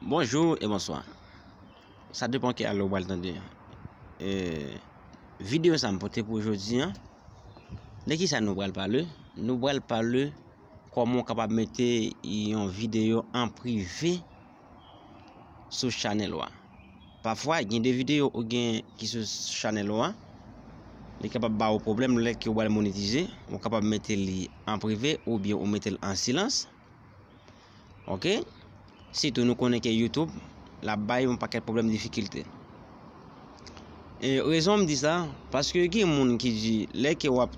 Bonjou e bonswa Sa depan ki ale ou pral tande Videyo sa m pote pou jodi an De kisa nou pral pale Nou pral pale Koman ou kapab mete yon videyo an prive Sou chanèl ou a Pafwa gen de videyo ou gen ki sou chanèl ou a Li kapab ba ou pwoblèm lè ke ou pral monetize Ou kapab mete li an prive oubyen ou mete l an silans Ok sitou nou konnen ke YouTube la bay yon pakèt pwoblèm difikilte e rezon m di sa paske gen moun ki di lè ke wap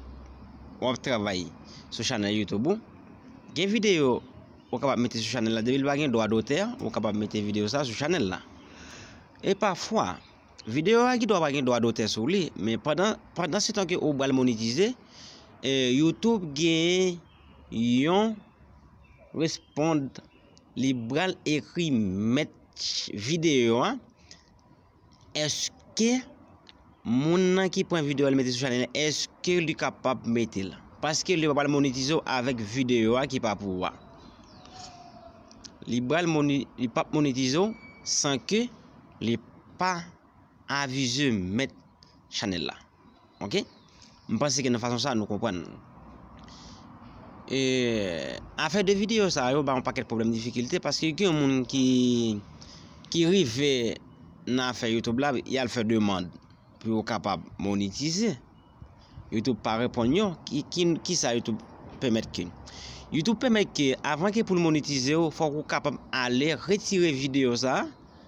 wap travay sou chanèl YouTube ou gen videyo ou kapab mete sou chanèl la depi l pa gen dwa dotè ou kapab mete videyo sa sou chanèl la e pafwa videyo a gen dwa pa gen dwa dotè sou li men pandan pandan se tan ke ou pral monetize e YouTube gen Yon respond li bral ekri mèt video a eske moun nan ki pran video al mete sou chanèl la eske li kapab metel paske li pral monetize w avèk video a ki pa pou ou a li pral li pap monetize w san ke li pa avize mèt chanèl la. Ok m panse ke nan fason sa nou konprann afè de video sa yo ba yon pakèt pwoblèm difikilte paske gen yon moun ki ki rive nan afè youtube la y al fè demand pou yo kapab monetize youtube pa reponn yo ki sa youtube pèmèt ke youtube pèmèt ke avan ke pou l monetize ou fòk ou kapab ale retire video sa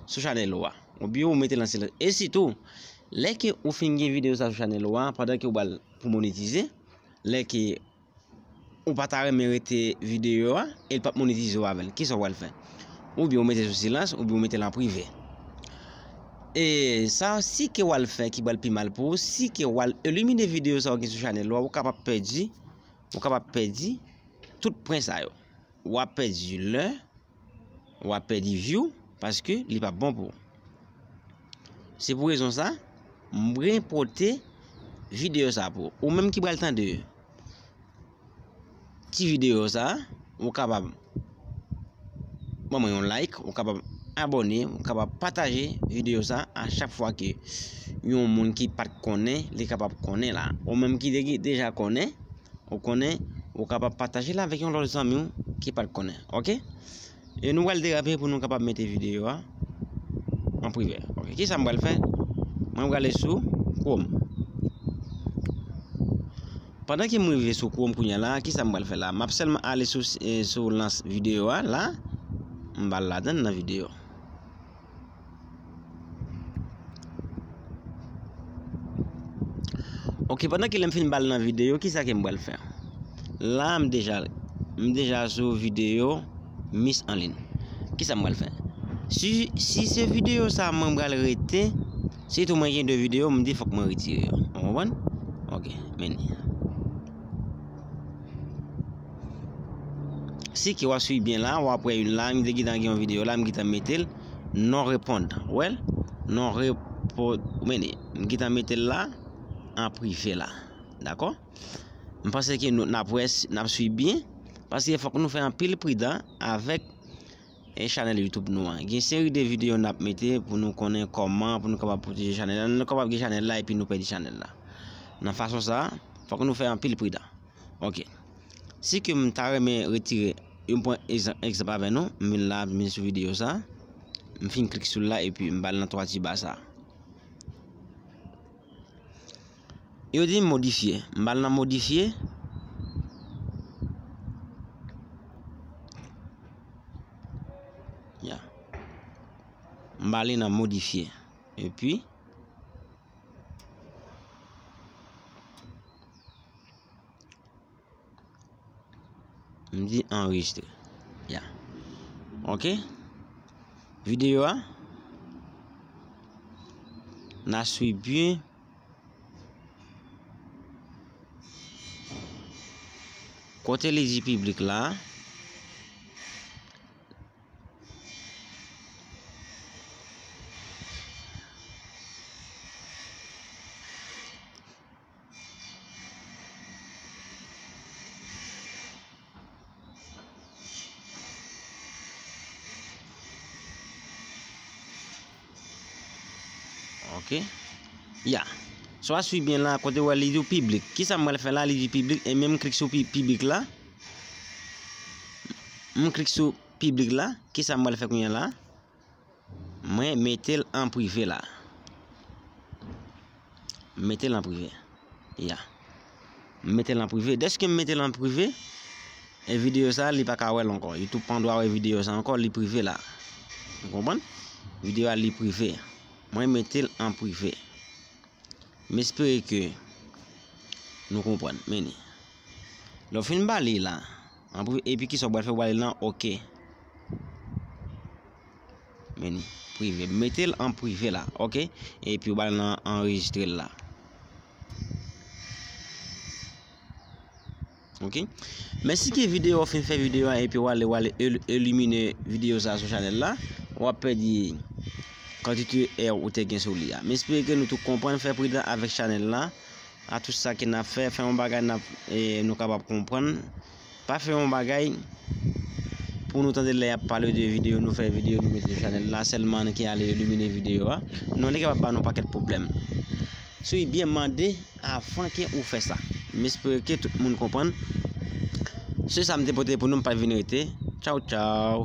sou chanèl ou a ou byen ou mete l an silans e sitou Lè ke ou fin gen video sa sou chanèl ou a pandan ke ou pral pou monetize lè ke ou pa ta renmen rete video a e li pap monetize ou avèl kisa ou pral fè ou byen ou mete sou silans ou byen ou metel an prive e sa si ke ou al fè ki pral pi mal pou ou si ke ou al elimine video sa ou gen sou chanèl ou a ou kapab pèdi ou kapab pèdi tout pwen sa yo wap pèdi lè. wap pèdi view paske li pap bon pou ou se pou rezon sa m brin pote video sa pou ou menm ki pral tande ti video sa ou kapab ban mwen yon like ou kapab abone ou kapab pataje video sa a chak fwa ke yon moun ki pat konnen li kapab konnen la ou menm ki deja konnen Ou konnen, ou kapab pataje l avèk yon lòt zanmi w ki pa t konnen. Ok? E nou pral derape pou nou kapab mete videyo a an prive. Ok, kisa m pral fè? Mwen pral ale sou Chrome. Pandan ke m rive sou Chrome kounye a la, kisa m pral fè la? M ap sèlman ale sou lans videyo a la. M ba l ladan nan videyo. Ok pandan ki lèm fin bal nan video ki sa ke m bal fè la m deja m deja sou video mis an lin ki sa m bal fè si se video sa mwen bal rete si tou mwen gen 2 video m di fòk mwen retire yo ou konprann ok meni si ki wa swiv byen la wap wè yon la m te gentan gen yon video la m gentan mete l Non repondan. Ou wè l? Non repond. Men e. M gentan mete l la an prive la. Dakò? M panse ke nou, n ap wè si, n ap suiv byen. Paske fòk nou fè anpil pridan avèk e chanèl Youtube nou an. Gen seri de videyo n ap mete pou nou konnen kòman pou nou kapab pwoteje chanèl la. Nou kapab gen chanèl la epi nou pèdi chanèl la. Nan fason sa a, fòk nou fè anpil pridan. Ok. Si ke m ta renmen retire yo m pran egzanp avè nou m vin la m vin sou videyo sa m fin klik sou l la epi m ba l nan 3 ti ba sa yo di m modifye m ba l nan modifye m ba li nan modifye epi M di anrejistre. Ya. Ok. Videyo a. Na swi byen. Kote li di piblik la. Ok Ya So a swi byen la kote wè li di w piblik Ki sa m pral fè la li di piblik e men m klik sou piblik la M klik sou piblik la Ki sa m pral fè kounye la Mwen metel an prive la. M metel an prive. Ya. M metel an prive. Deske m metel an prive, e video sa li pa ka wèl ankò. Youtube pa dwa wè video sa ankò, li prive la. Ou konprann? Video a li prive. Mwen metel an prive. M espere ke nou konprann. Meni. Lè w fin ba li la. Anpri epi kisa ou pral fè ou pral nan ok menu prive metel an prive la ok epi ou pral nan anregistrel la ok men si ki video ou fin fè video a epi ou ale ou ale elimine video sa sou chanel la wap pèdi kantite èw ou te gen sou li a m espere ke nou tout konprann fè pridan avèk chanel la A tout sa ke nap fè, fè yon bagay nap nou kapab konprann, pa fè yon bagay pou nou tande lè yap pale de video nou fè video nou mete sou chanèl la sèlman ki ale elimine video a, non li kapab ba nou pakèt pwoblèm. So e byen mande avan ke ou fè sa. M espere ke tout moun konprann. Se sa m te pote pou nou m pa vin rete. Tchaw tchaw.